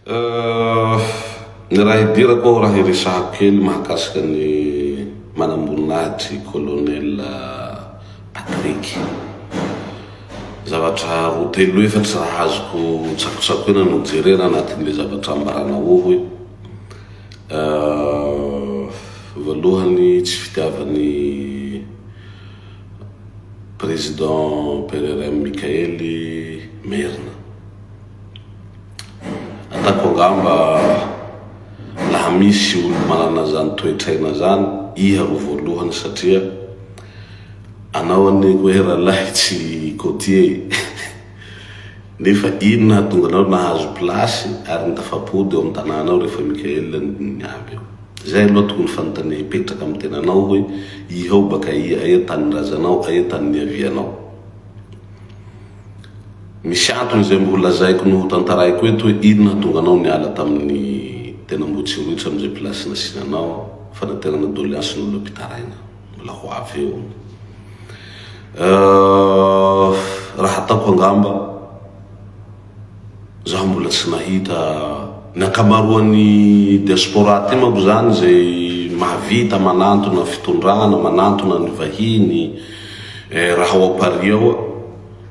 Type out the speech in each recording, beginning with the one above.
Ny raha idirako ao, raha hiresahako kely mahakasika ny manamboninahitry i Colonel Patrick. Zavatra roa telo efatra raha azoko tsakotsakoina no jerena anatin'ilay zavatra ambaranao hoe voalohany tsy fitiavan'ny Président PRRM Mickaël i Merina. Ataoko angamba laha misy olo manana zany toetraina zany, iha ro voalohany satria anao anie koa he ralahy tsy côtier e! Nefa inona hahatonga anao nahazo place ary ny tafapody ao am tananao ry Fa Michael ny aby eo? Zay aloha tokony fanontania hipetraka am tenanao hoe iha ao baka aia? Aia tany ndrazanao? Aia tany niavianao? Misy antony izay mbola lazaiko no hotantaraiko eto hoe inona hahatonga anao niala tamin'ny tena Ambohitsirotsy amin'izay place nasiana anao, fanaterana doleance ny olona mpitaraina. Mbola ho avy eo. Raha ataoko angamba, Za mbola tsy nahita ny ankamaroan'ny diaspora aty manko zany izay mahavita manantona fitondrana, manantona ny vahiny eh, raha ao Paris ao ah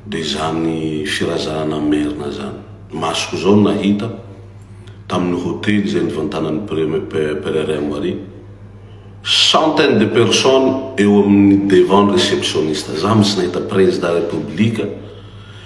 de izany firazanana merina zany. Ny masoko zao nahita tamin'ny hotely izay nivantanan'ny Premier Pereira Maria, centaines de personnes eo amin'ny devant ny receptionniste, za mitsy nahita prezida repoblika,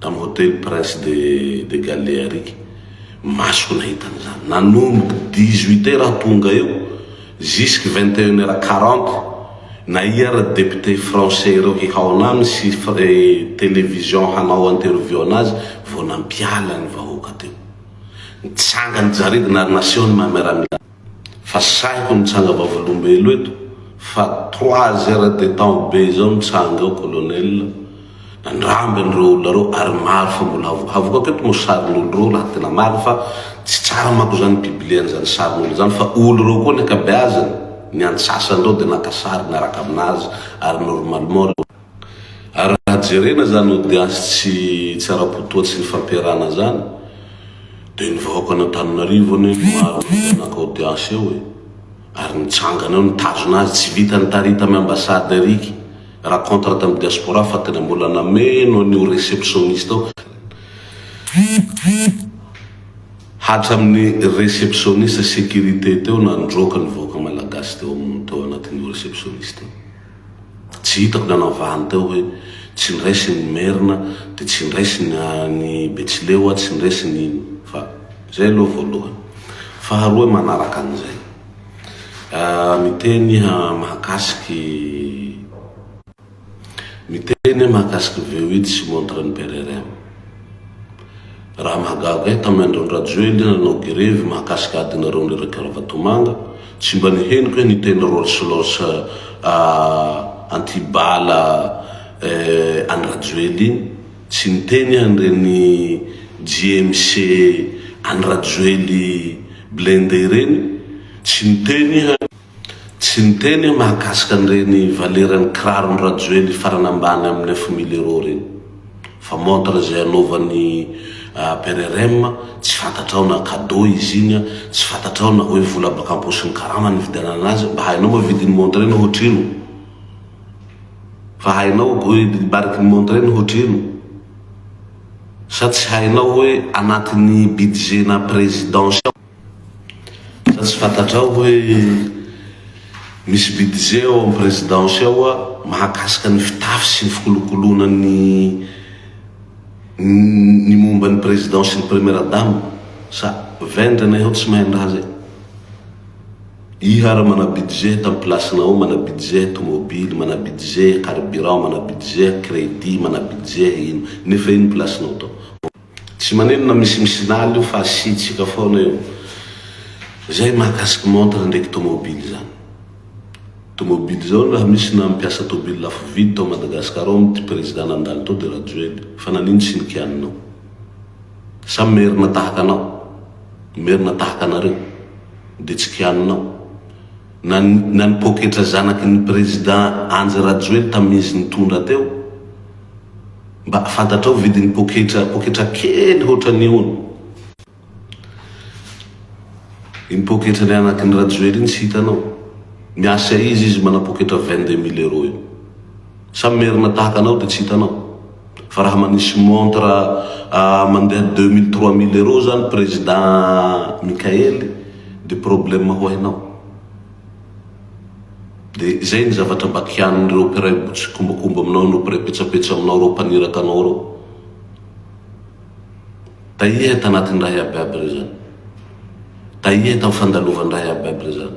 tamin'ny hotely Prince de de Gallearik, masoko nahita an'izany, nanomboka dix huit heure aho tonga eo jusque vingt et une heure quarante, nahia ry députés français ireo hihaona aminy sy télévision hanao interview anazy vao nampiala ny vahoaka teo, nitsanga ny jaridina ary naseho ny maha miaramila. Fa sahiko mitsanga vavolombelo eto fa trois heures de temps be zao mitsanga eo colonel nandramby an'ireo olona reo ary maro fa mbola avokavokako eto mo sarin'olo reo raha tena marina fa tsy tsara manko zany pibliana zany sarin'olo zany fa olo reo koa ny akabeazany ny antsasany reo de naka sary niaraka aminazy ary normalement reo Ary raha jerena zany odiasy tsy tsy ara-po toa tsy nifampiarahana zany de ny vahoakan'Antananarivo anie maro vita naka odiasy eo e! Ary nitsangana eo nitazona azy tsy vita nitari tamy ambassade eriky ra contre tamy diaspora fa tena mbola nameno an'io receptioniste ao hatraminy receptioniste securite teo nandroaka ny vahoaka malagasy teo am tao anatin'io receptioniste io. Tsy hitako ny anavahany teo hoe tsy niraisiny ny merina dia tsy niraisiny any betsileo aho tsy niraisiny iny fa izay aloha voalohany faharoa manaraka an'izay miteny iha mahakasiky miteny iha mahakasiky veuille tsy montre ny PRRM Raha mahagaga ahy tamin'ny andron'i Rajoely nanao gerevy mahakasika adinareo mirehirehika ravatomanga, tsy mba nihenoko hoe niteny rolls loss anti bala an'i Rajoely iny, tsy niteny aho an'ireny JMC an'i Rajoely blindé ireny, tsy niteny aho. Tsy niteny aho mahakasika an'ireny valeran'ny kiraron'i Rajoely farany ambany amin'ny neuf mille euros ireny. Fa montre izay anaovan'i PRRM, tsy fantatrao na cadeau izy iny an, tsy fantatrao na hoe vola baka am-paosin'ny karama nividianana azy. Mba hainao moa vidin'ny montre iny hoatrino? Fa hainao bariky ny montre iny hoatrino? Sa tsy hainao hoe anatin'ny budget-na présidence ao? Sa tsy fantatrao hoe misy budget ao amin'ny présidence ao mahakasika ny fitafy sy ny fikolokoloana ny ny momba ny président sy ny première dame? Sa vendrana ianao tsy mahay ny raha zay? Iha ary mana budget tamin'ny place-nao ao, mana budget tomobily, mana budget carburant, mana budget crédit, mana budget ino, nefa iny place-nao tao. Tsy manino na misimisy lala io fa asiantsika foana eo zay mahakasika montre ndraiky tomobile zany. Tomobile zao raha misy na mpiasa tobile lafo vidy tao Madagascar ao mty président nandalo tao de Rajoely fa nanino tsy nikianinao. Sa merina tahaka anao, merina tahaka anareo de tsy kianinao. Na ny na ny poketra zanaky ny président Andry Rajoely tamin'izy nitondra teo? Mba fantatrao vidin'ny poketra poketra kely hoatran'io hono? Iny poketra ny anaky ny Rajoely iny tsy hitanao? Miasa aiza izy mana poketra vingt deux mille euros io? Sa merina tahaka anao de tsy hitanao? Fa raha manisy montre mandeha deux mille trois mille euros zany président Mickaëly de problème ho hainao. De zay ny zavatra mba kianin'ireo mpiray tsikombakomba aminao no mpiray petsapetsa aminao reo mpaniraka anao reo. Tahiahy tanatin'ny raha iabiaby re zany. Tahiahy tam fandalovany raha iabiaby re zany.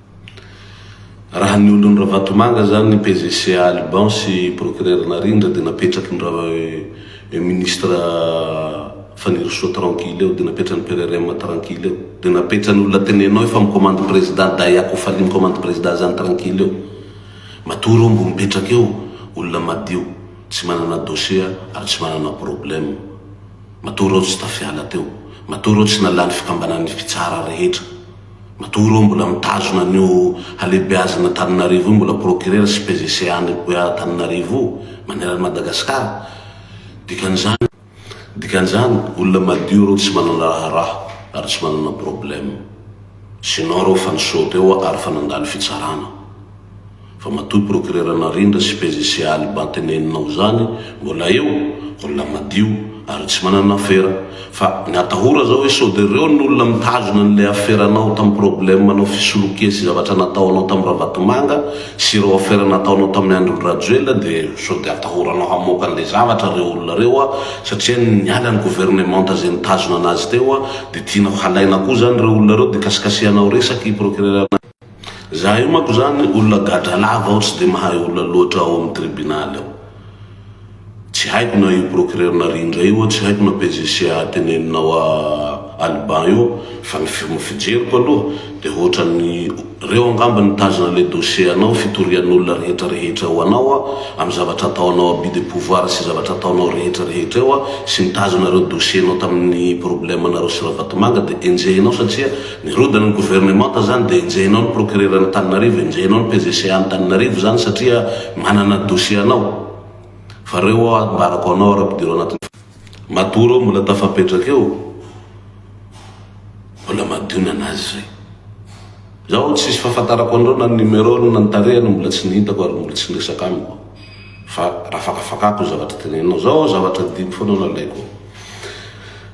Raha ny olon'i Ravatomanga izany ny PGC Alban sy Procureur Narindra dia napetraky ny ra eo Ministre Fanirisoa tranquille eo, dia napetran'ny PRRM tranquille eo, dia napetran'ny olona tenenao efa mi-commande Président Dahy Akofali mi-commande Président izany tranquille eo. Matory omby mipetraka eo olona madio tsy manana dossier ary tsy manana problème. Matory aho tsy tafiala teo. Matory aho tsy nalany fikambanan'ny fitsara rehetra. Matoa ireo mbola mitazona an'io halehibeazana Antananarivo io mbola procureur sy PGC any Antananarivo io maneran'i Madagascar. Dikan'izany. Dikan'izany, olona madio ireo tsy manana raharaha ary tsy manana problème. Sinon ireo fa nisaute eo ary fa nandalo fitsarana. Fa matoa procureur Narindra sy PJC Aly Banteneninao zany mbola eo, olona madio ary tsy manana afera. Fa ny atahora zao hoe sode reo ny olona mitazona anle aferanao tam problème anao fisolokia sy zavatra nataonao tam Ravatomanga sy ireo afera nataonao tamin'ny andron Rajoelina de sode atahoranao hamoaka anle zavatra reo olona reo a satria niala ny gouvernementa ze nitazona anazy teo a de tianao halaina koa zany reo olona reo de kasikasihanao resaky procureur Za io manko zany olona gadra lava aho tsy de mahay olona loatra ao amin'ny tribunal ao. Tsy haiko na io procureur narindra io tsy haiko na PJC teneninao à Alban io fa ny fijeriko aloha de ohatran'ny reo angamba nitazona le dossier anao fitorian'olona rehetra rehetra eo anao amin'ny zavatra ataonao abus de pouvoir sy zavatra ataonao rehetra rehetra eo sy nitazona reo dossier nao tamin'ny problème nareo sy Ravatomanga de enjehinao satria Ny rodin'ny gouvernemanta izany dia enjehinao ny procureur Antananarivo, enjehinao ny PGCA Antananarivo izany satria manana dossier anao. Fa ireo ho'a ambarako anao ary ampidiro anatin'ny. Matoa ireo mbola tafapetraka eo, mbola madio ny an'azy izay. Izaho tsisy fahafantarako an'ireo na ny numerony na ny tarehany mbola tsy nihitako ary mbola tsy niresaka amiko. Fa rafakafakako ny zavatra teneninao. Izao aho zavatra adino foana no alaiko.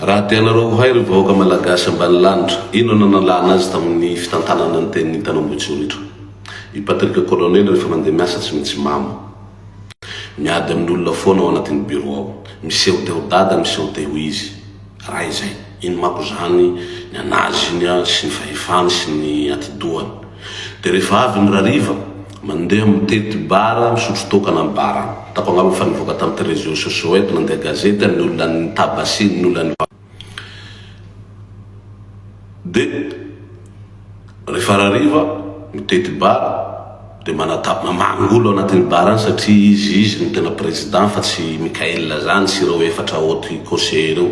Raha tianareo ho hay ry vahoaka Malagasy ambanilanitra, inona no nalana azy tao amin'ny fitantanana ny tenin'ny tanambotsoritra? I Patrick Colonel rehefa mandeha miasa tsy mitsimamo. Miady amin'ny olona foana ao anatin'ny bureau ao. Miseho te ho dada, miseho te ho izy. Raha izay, ino manko izany ny an'azy iny sy ny fahefany sy ny atidohany? Dia rehefa avy ny rariva? Mandeha mitety bara, misotro toaka na ny bara. Hitako angamba fa nivoaka tamin'ity réseaux sociaux eto, nandeha gazety an'ny olona an'ny Tabasia, ny olona an'i Vava. Dia rehefa rariva, mitety bara, dia manatap, mamangy olona ao anatin'ny bara any satria izy, izy no tena président fa tsy i Mickaël zany sy ireo efatra haute conseillers ireo.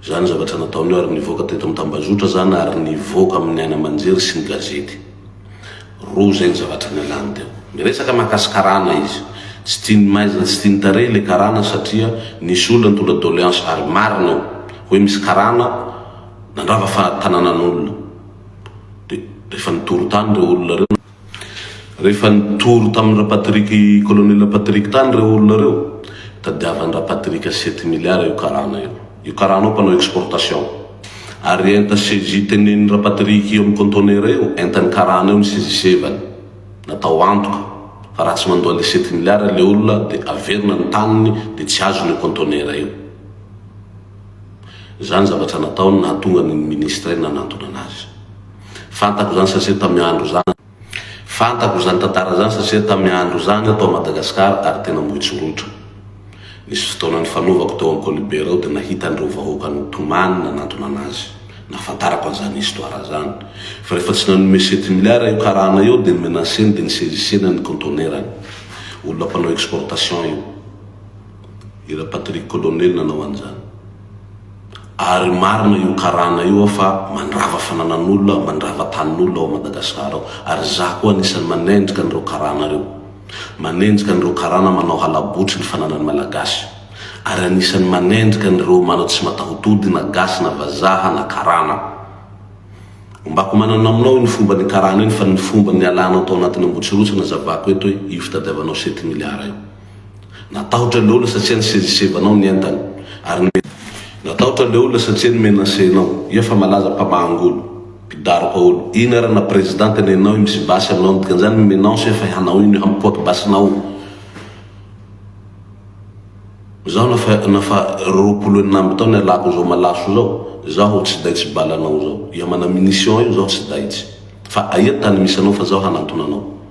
Izany zavatra nataony io ary nivoaka teto amin'ny tambazotra izany ary nivoaka amin'ny haino aman-jery sy ny gazety. Roa izay ny zavatra nialany teo. Niresaka mahakasy karana izy. Tsy tian'ny maizina, tsy tian'ny tarehy ilay karana satria nisy olona nitondra doléance ary marina io. Hoe misy karana nandrava fa tananan'olona. Dia rehefa nitory tany ireo olona ireo, rehefa nitory tamin'ny Rapatrick, Colonel Rapatrick tany ireo olona ireo, tadiavan'i Rapatrick sety milliards io karana io. Io karana io mpanao exportation. Ary enta CJ teneniny Rapatrique io amin'ny conteneur io, entan'ny karana io ny sezisevany. Natao antoka, fa raha tsy mandoa an'ilay sept milliards ilay olona dia averina ny taniny dia tsy azony io conteneur io. Izany ny zavatra nataony nahatonga ny ministre nanantona anazy. Fantako izany satria tamin'ny andro izany, Fantako izany tantara izany satria tamin'ny andro izany aho tao Madagasikara ary tena moitso loatra. Nisy fotoana nifanovako teo amin'ny Kolibera ao dia nahita an'ireo vahoaka nitomany nanantona an'azy. Nahafantarako an'izany histoire izany. Fa rehefa tsy nanome sept milliards io karana io dia ni-menacer-ny dia ni-saisissena ny contenaire-ny. Olona mpanao exportation io. I Ra Patrick Colonel nanao an'izany. Ary marina io karana io aho fa mandrava fananan'olona, mandrava tanin'olona ao Madagascar ao. Ary izaho koa anisan'ny manenjika an'ireo karana ireo. Manenjika an'ireo karana manao halabotry ny fananan'ny Malagasy. Ary anisan'ny manenjika an'ireo manao tsy matahotody na gasy na vazaha na karana. Ombako manana aminao iny fomba nikarana iny fa ny fomba nialanao tao anatin'ny Ambohitsirotsy nazavako eto hoe io fitadiavanao sept milliards io. Natahotra ilay olona satria nisezisevanao ny entany ary nomena. Natahotra ilay olona satria nomenacenao. Iha fa malaza mpamaha-angola. Mpidaroka olo. Iny ara na president nenao io misy basy aminao ny dikan'izany ny menance efa hanao iny hampipoaka basinao. Izaho na fa na fa roapolo enina amby taona ialako izao malaso izao izaho tsy daitsy balanao izao. Iha mana munition io izaho tsy daitsy. Fa aia tany misy anao fa izaho hanantona anao.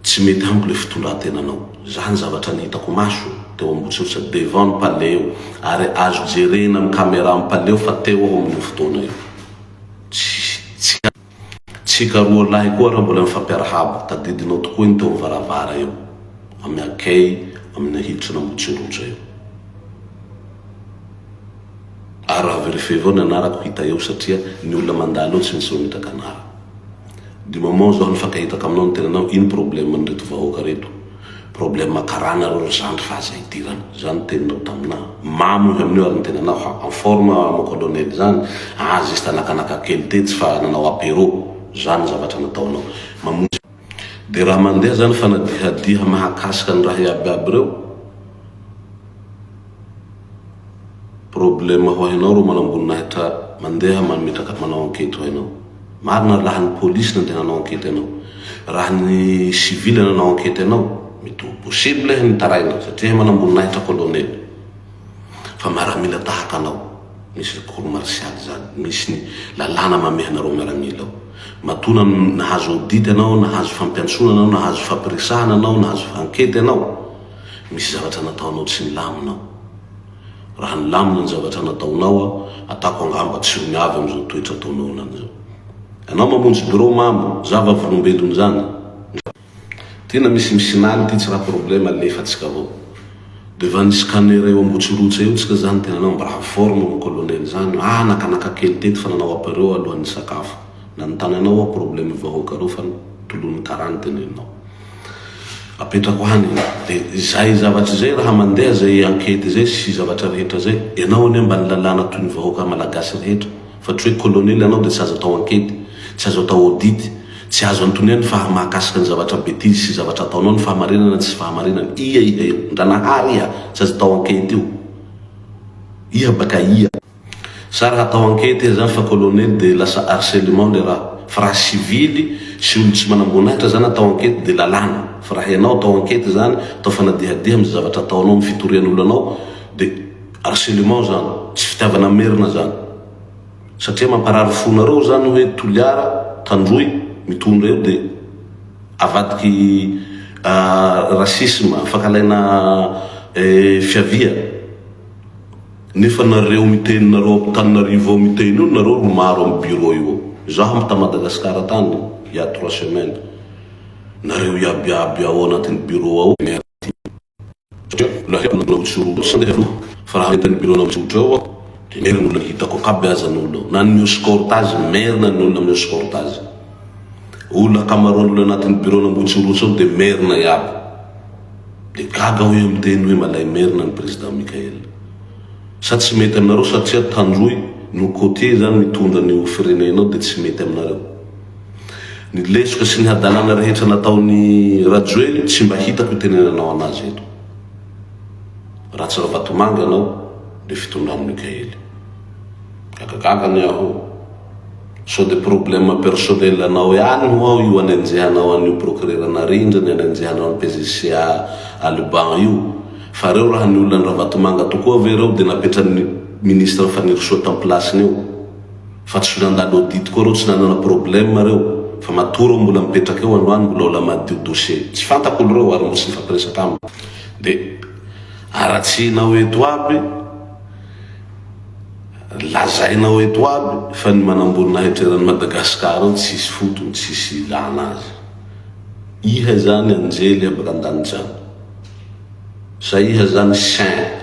Tsy mety amiko le fitondrantenanao. Za ny zavatra nihitako maso teo ambotsirotra devant ny palais eo ary azo jerena am camera am palais eo fa teo aho amin'io fotoana io. Tsy tsika roa lahy koa ra mbola mifampiarahaba. Tadidinao tokoa iny teo am varavara eo am akey am ny hiditrana ambotsirotra eo. Ary ra verifier vao ny anarako hita eo satria ny olona mandalo eo tsy misy mimetraka anara. De maman zaho nifankahita taminao nitenenanao ino problème n'ireto vahoaka reto problème karana reo ry zandry fa aza idirana zany ny teninao taminah mamo izy amin'io ary nitenenao fa en forme mon colonel zany ah juste nakanaka kely tetsy fa nanao apéro zany ny zavatra nataonao mamonjy Dia raha mandeha izany fanadihadiha mahakasika ny raha iaby iaby ireo, problème ho hainao ireo manamboninahitra mandeha mametraka manao enquête ho hainao. Marina raha ny police nandeha nanao enquête anao. Raha ny civil nanao enquête anao, mety ho possible ny taraina satria manamboninahitra colonel. Fa miaramila tahaka anao. Misy recours martial zany, misy ny lalàna mamehy anareo miaramila ao. Matoa na nahazo audit anao, nahazo fampiantsoana anao, nahazo fampiresahana anao, nahazo ankety anao, misy zavatra nataonao tsy nilamina ao. Raha nilamina ny zavatra nataonao aho, atako angamba tsy ho miavy amin'izao toetra ataonao anany izao. Ianao mamonjy birao mamo, zava-volombelona izany. Tena misy misinany ity tsy raha problème alefatsika avao de va ny scanner eo ambotsirotsa eo tsika zany tena anao mba informe mon colonel zany ah nakanaka kely teto fa nanao apero alohan'ny nisakafo nanontany anao aho problème vahoaka reo fa tolon'ny kara ny teneninao apetrako any de zay zavatra zay raha mandeha zay enquete zay sy zavatra rehetra zay enao anie mba ny lalàna toy ny vahoaka malagasy rehetra Fa tsy hoe colonel ianao dia tsy azo atao enquete, tsy azo atao audit, tsy azo anotoniany fa mahakasika ny zavatra betizy sy zavatra ataonao ny fahamarinana tsy fahamarinana, ia ia io? Ndranahaary ia? Tsy azo atao enquete io? Ia baka ia? Sa raha atao enquete izy zany fa colonel dia lasa harcelement le raha? Fa raha sivily sy olo tsy manamboninahitra zany atao enquete dia lalàna, fa raha ianao atao enquete zany atao fanadihadiha amzay zavatra ataonao am fitorian'olo anao dia Harcelement izany, tsy fitiavana merina izany. Satria mamparary fonareo izany hoe Toliara, Tandroy, mitondra eo dia avadiky racisme, fankalaina fiavia. Nefa nareo miteny nareo Antananarivo ao miteny io nareo ro maro am bureau io ao. Izaho am ta Madagascar tany il ya trois semaines, nareo iaby iaby ao anatin'ny bureau ao. Merci. satria mbola haiko ny manao mijoro sy handeha aloha fa raha eto amin'ny biraonao mijoro eo aho dia merina olona hitako akaby aza ny olona na ny escorte azy merina ny olona mi-escorte azy olona ankamaroan'ny olona anatin'ny biraonao mijoro eo dia merina iaby dia gaga aho hoe miteny hoe malay merina ny président Michael sa tsy mety aminareo satria tandroy no côtier izany mitondra ny ho firenenao dia tsy mety aminareo Ny lesoka sy ny hadalana rehetra nataon'i Rajoely tsy mba hitako itenenanao anazy eto. Ratsy Ravatomanga anao le fitondran'i Mikaely. Gagagaga anie aho. Sao de problème personnel anao ihany ho'aho io anenjehanao an'io procureur Narindra ny anenjehanao an'i PGC à Alban io. Fa reo raha ny olona an'i Ravatomanga tokoa ve reo de napetran'ny ministre Fanirisoa tam-pilasiny eo. fa tsy nandalo audit koa reo tsy nanana problème reo fa matoa reo mbola mipetraka eo androany mbola ola madio dossier tsy fantako olo reo ary mbola tsy nifampiresaka amiko de aratsihinao eto aby lazainao eto aby fa ny manamboninahitra eran'i Madagascar ao tsisy fotony tsisy ilana azy iha izany anjely abaka andanitra any sa iha izany saint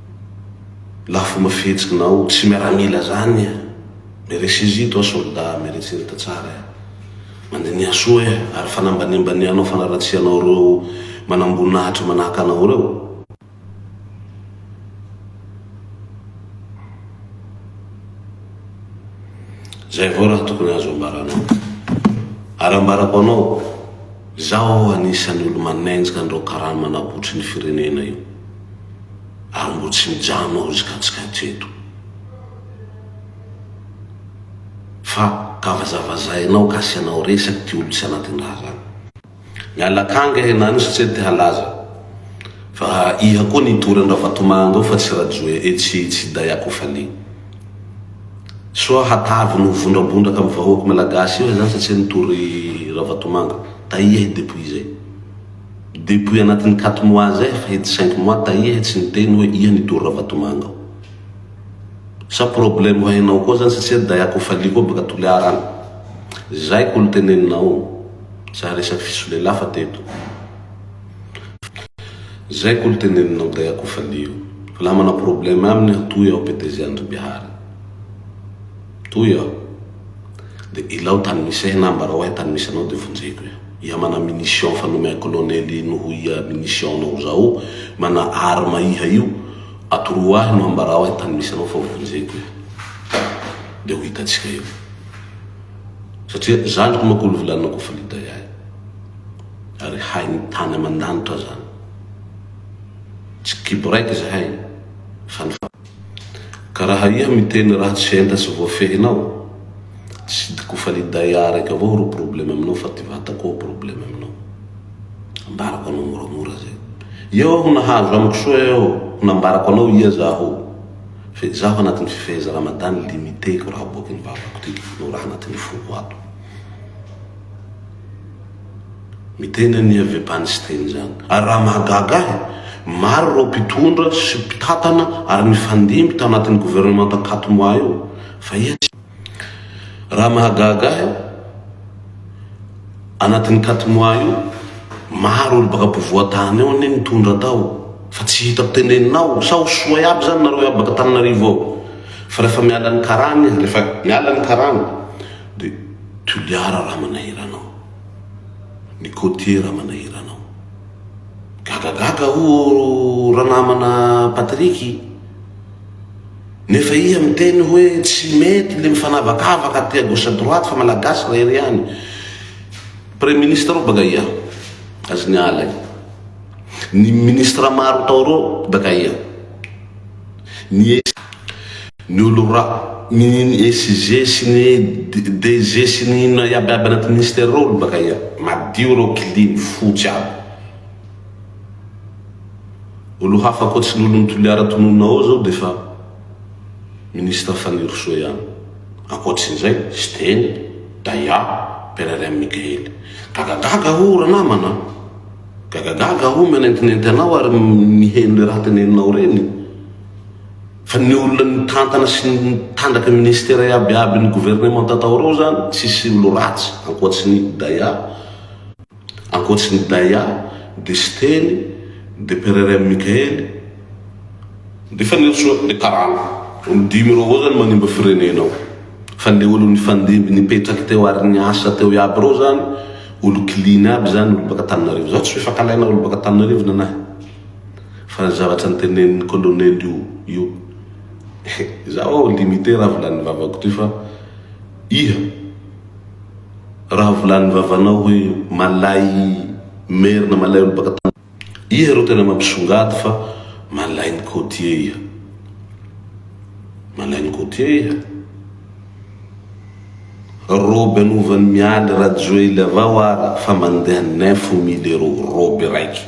lafo mafetsy nao tsy miaramila zany eh meresez toi soldat meresez ta tsara eh mandiniha soa eh ary fanambanimbanihanao fanaratsianao reo manamboninahitra manahaka anao reo zay avao raha tokony azo ambaranao ary ambarako anao zaho anisan'ny olo manenjika an'ireo karama nabotry ny firenena io Ambotsinjano ao izy ka tsy maintsy eto. Fa ka vazavazainao ka asianao resaka ity olona tsy anatin'ny raharaha. Miala akanga e na nisy tsy te halaza fa iha koa nitory an Ravatomanga ao fa tsy Rajoe e tsy tsy day ako fale soa hatavy ny ho vondrabondraka am vahoak Malagasy eo zany satsia nitory Ravatomanga taia i Depouille zay. Depouille anatin'ny quatre mois zay fa ity cinq mois taia he tsy niteny hoe iha nitory Ravatomanga ao. Sa problème ho hainao koa zany satsia daia ko falia koa baka Toliara any. Zay ko lteneninao. Za resaky fisolelafa teto. Zay ko lteneninao daia ko falia io. Fa laha mana problème aminy aho toy aho PDG Andry Bihary. Toy aho. Dia ilao tany misy ahy na ambarao ahy tany misy anao dia vonjeko eo. Ia mana munition fa nomea kolonely ino ho ia munition nao zao mana arme iha io, atoroa ahy no ambarao ahy tany misy anao fa vonjeko eo. Dia ho hitantsika eo. Satria zandriko manko olo vilanina koa fa liday ahy. Ary hain'ny tany aman-danitra zany. Tsy kibo raiky izahay fa ny Ka raha iha miteny raha tsy enta sy voafehinao, Sidi Kofalidae araiky avao ro probleme aminao fa ty vata koa probleme aminao. Ambarako anao moramora zay. Eo aho nahazo amiko soa eo ho nambarako anao iha zaho. Fa izaho anatin'ny fifeheza Ramadan limite ko raha aboakin'ny vavako ty no raha anatin'ny foko ato. Miteny an'i Avebany Siteny izany. Ary raha mahagaga ahy, maro ireo mpitondra sy mpitantana ary nifandimby tao anatin'ny governemanta Katmoa io, fa iza izany? Raha mahagaga ahy, anatin'ny Katmoa io, maro olo baka ampovoan-tany ao anie nitondra tao, fa tsy hitako tenenina ao, sa ho soa iaby izany nareo iaby baka Antananarivo ao? Fa rehefa miala ny karana izy, rehefa miala ny karana, Dia Toliara Ramanahirana ao. Ny côtier Ramanahirana ao. Gagagaga ho'o ranamana Patrick. Nefa iha miteny hoe tsy mety le mifanavakavaka aty à gauche à droite fa malagasy rery ihany. Premier ministre ao baka iha. Azy ny ala e. Ny ministre maro tao reo baka iha. Ny Ny olo ra. Ny SG sy ny DG sy ny inona iaby iaby anaty ministère reo olo bakaia? Madio reo clean, fotsy aby. Olo hafa akoatry ny olon'i Toliara tononina ao zao defa ministre Fanirisoa ihany. Akoatrin'izay, Siteny, Daya, Pererem Mikaely. Gagagaga o ranamana a! Gagagaga o mihanentinenty anao ary miheno le raha teneninao reny. Fa ny olona nitantana sy nitandraka ministera iaby iaby ny gouvernementa tao reo zany tsisy olo ratsy ankoatry ny Daya ankoatry ny Daya de Siteny de Pererem Mikaely de Fanirisoa de Karana olo dimy reo avao zany manimba firenena ao fa le olo nifandimby nipetraky teo ary niasa teo iaby reo zany olo clean iaby zany olo baka Tananarivo zaho tsy fifankalaina olo baka Tananarivo nanahy Fa ny zavatra nitenenin'ny colonel io io Izaho aho limite raha volan'ny vavako toy fa iha Raha volan'ny vavanao hoe malay merina malay olo baka tany Iha ro tena mampisongady fa malain'ny côtier iha Malain'ny côtier iha Robe anovan'i Mialy Rajoely avao ara fa mandeha neuf mille euro robe raiky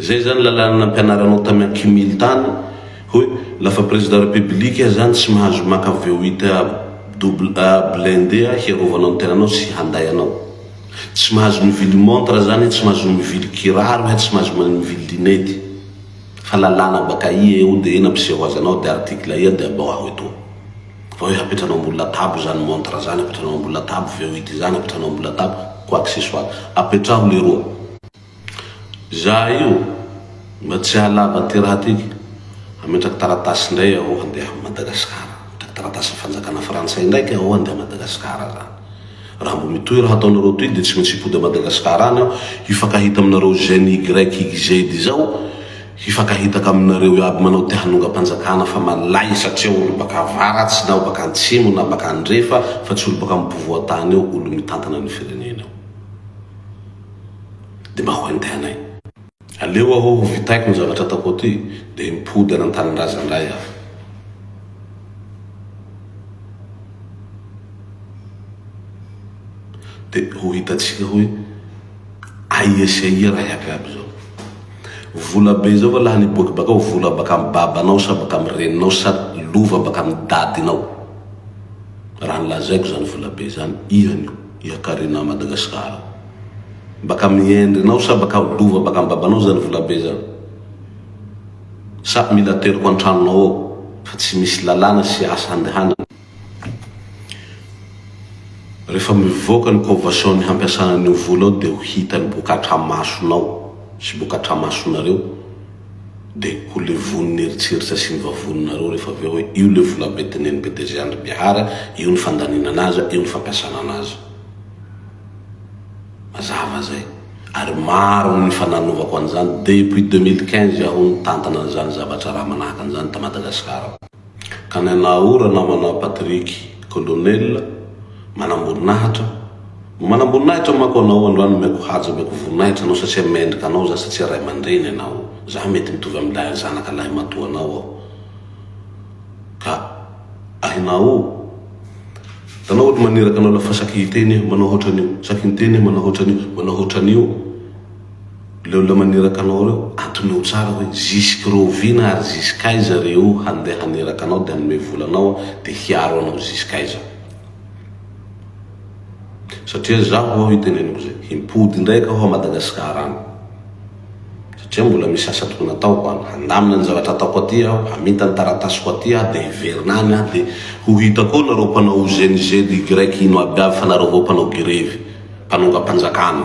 Zay zany lalàna nampianaranao tamy an Kim Il tany hoe lafa président république aza any tsy mahazo maka VOIT A double A blindé a hiarovanao ny tenanao sy handay anao. Tsy mahazo mivily montre zany tsy mahazo mivily kiraro he tsy mahazo mivily linety. Fa lalàna baka aia eo de nampiseho azy anao de article aia de abao aho etoa. Fa hoe hapetranao ambony latabo zany montre zany hapetranao ambony latabo VOIT zany hapetranao ambony latabo quoi que ce soit. Apetraho leroa. Za io mba tsy hahalava ty raha ty ka! Hametraka taratasy ndray aho handeha am Madagascar. Hametraka taratasy am fanjakana frantsay ndraiky aho handeha am Madagascar zany. Raha mbo mitohy raha ataonareo toy de tsy maintsy hipody am Madagascar any aho hifankahita aminareo ZNYYZ zao hifankahitaka aminareo iaby manao ty hanongam panjakana fa malay satria olo baka avaratsy na baka antsimo na baka andrefa fa tsy olo baka am povoan tany eo olo mitantana ny firenena io. dia mba ho andehanay. Aleo aho ho vitaiko ny zavatra ataoko aty dia mipody any an-tanindrazana indray aho. Dia ho hitantsika hoe aia sy aia raha iabiaby izao. Vola be izao va lany hiboaka bakao, vola baka amin'ny babanao sa baka amin'ny reninao sa lova baka amin'ny dadinao? Raha ny lazaiko izany vola be izany, ianio. Ya Karina Madagascar baka amin'ny endrinao sa baka ho lova baka amin'ny babanao zany volabe zany? Sa mila ateriko antranonao ao fa tsy misy lalàna sy asa handehanana? Rehefa mivoaka ny convention ny hampiasana an'io vola io dia ho hita ny boka atramasonao sy boka atramasonareo de ho levon'ny eritreritra sy ny vavoninareo rehefa avy eo hoe io le vola be teneniny be DG Andry Bihara, io ny fandaninana azy, io ny fampiasana anazy. Mazava zay. Ary maro ny efa nanovako an'izany depuis deux mille quinze aho nitantana an'izany zavatra raha manahaka an'izany ta Madagascar. Ka ny anà o Ranamanà Patrick Colonel manamboninahitra no manamboninahitra manko anao androany omeko haja omeko voninahitra anao satria mendrika anao za satria raimandreny anao za mety mitovy am lahy zanaka lahy matoa anao aho ka ahinà o tanao ohatry maniraka anao lafa saky hiteny aho manao hotranio saky miteny aho manao hotranio manao hotranio Leo olona maniraka anao ireo atomeo tsara hoe zisk'roviana ary zisk'aiza reo handeha haniraka anao dia hanome vola anao dia hiaro anao zisk'aiza. Satria zaho ao iteneniko izay, himpody indray ka ho a Madagascar any. Satria mbola misy asa tokony ataoko any, handamina ny zavatra ataoko aty aho, haminta ny taratasiko aty aho dia hiverina any aho dia ho hita koa nareo mpanao OGNIGEDY ino aby avy fa nareo avao mpanao girevy, mpanongam-panjakana.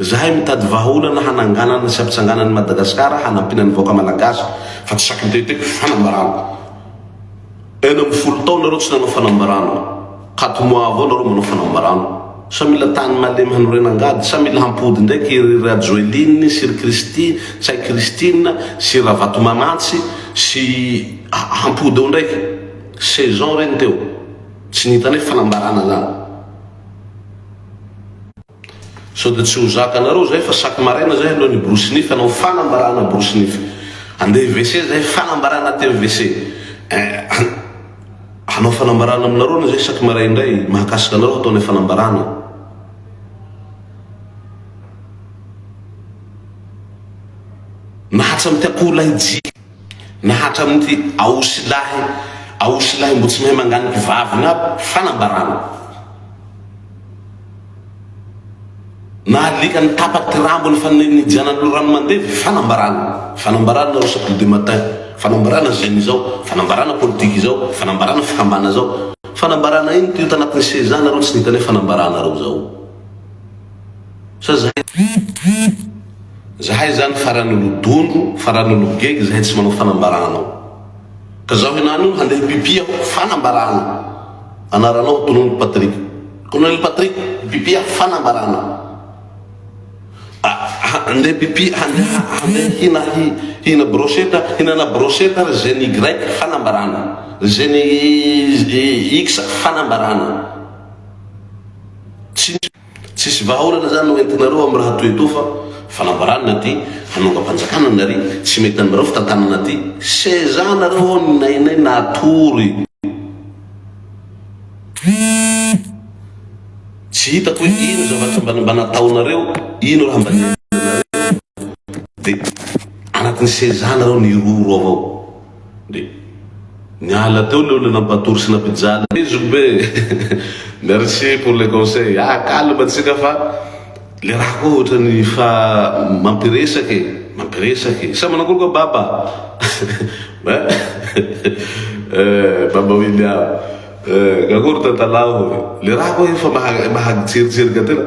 Zahay mitady vahaolana hananganana sy hampitsangana an'i Madagasikara hanampiana ny vahoaka Malagasy fa tsy saky mitetitety fanambarana. Enina amby folo taona nareo tsy nanao fanambarana. Quatre mois avao nareo manao fanambarana. Sa mila tany malemy hanorena angady? Sa mila hampody ndraiky i ry Rajoeline sy ry Christie sa i Christine sy Ravatomanantsy sy hampody eo ndraiky? Saison reny teo. Tsy nihitanay fanambarana zany. Sao dia tsy ho zakanareo izay fa chaque maraina izay aleo ny borosy nify hanao fanambarana borosy nify. Andeha WC izay fanambarana aty amin'ny WC. Eh an! Hanao fanambarana aminareo anie izay chaque marais indray mahakasika anareo hatao ilay fanambarana. Na hatramin'ny ty akoholahy jiaby. Na hatramin'ity aosy lahy aosy lahy mbo tsy mahay manganika vaviny aby fanambarana. Na alika nitapa ty rambony fa nijanany lo rano mandevy fanambarana. Fanambarana nareo sa de matin fanambarana zeny izao fanambarana politika izao fanambarana fikambana zao fanambarana ino ty io tanatin'ny seza nareo tsy nitane fanambarana reo zao. Sa zahay zany? Zahay zany farany olodondro, farany ologegy, zahay tsy manao fanambarana ao. Ka zaho henany io handeha pipi aho, fanambarana. Anaranao Colonel Patrick. Colonel Patrick, pipi aho, fanambarana. Handeha pipi, handeha handeha hina hi, hina brochette, hinana brochette ry zeny Y fanambarana. Ry zeny X fanambarana. Tsy Tsisy vahaolana zany no entinareo am raha toy etoa fa fanambarana aty hanongam-panjakana nary tsy mety aminareo fitantanana aty seza nareo ao ny nainay natory tsy hitako hoe ino zavatra mba mba nataonareo ino raha mba niainanareo de anatin'ny seza nareo niroro ao ao Dia niala teo le olona nampatory sy nampijaly anay zokibe e! Merci pour le conseil! Aah calme antsika fa le raha koa ohatrany fa mampiresaka e! Mampiresaka e! Sa manakory koa Baba? Eh Baba William! Eh! Akory tantalaho e! Le raha koa efa maha-tseriserika tena!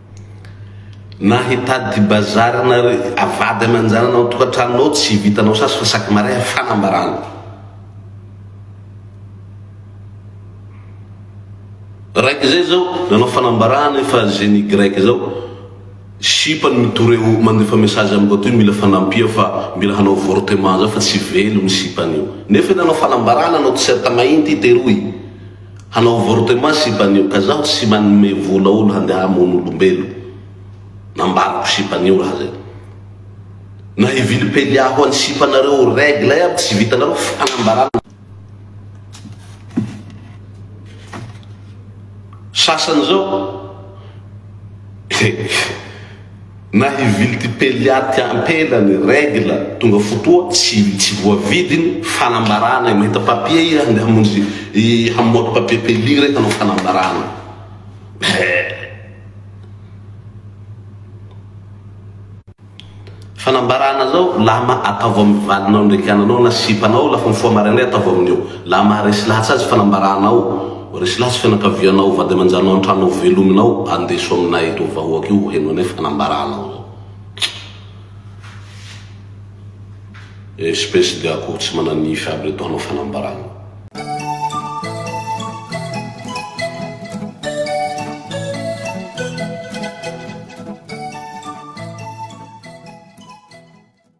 Na hitady bazary na avady aman-janany ao an-tokantranony ao, tsy vitanao sasy fa sac maraîa fanambarana. Raiky izay izao nanao fanambarana efa génie grec izao, sipa no mitory eo mandefa message amin'ny boîte hoe mila fanampia fa mila hanao avortement zao fa tsy velo ny sipany io. Nefa io nanao fanambarana nanao t-shirt mainty i Teroy. Hanao avortement sipanio ka zaho tsy manome vola olo handeha hamono olombelo nambarako sipanio raha zay na hivily pelia ho any sipanareo règle iaby tsy vitanareo fanambarana sasany zao Na hivily tipelia aty ampela ny règle tonga fotoa tsy tsy voavidy ny fanambarana e mahita papier iha nde hamonjy hamoaka papier pelia re hanao fanambarana eh fanambarana zao lama ataovy amin'ny valinao ndraiky ananao na sipanao lafa mifoha maraindray ataovy amin'io laha maharesy lahatsa azy fanambarana ao Resy lahy sy fianakavianao, vady aman-janao an-trano ao velominao, andeso aminay eto vahoaka io heno anay fanambaranao zao. Espèce de akoho tsy manan'nify aby reto hanao fanambarana.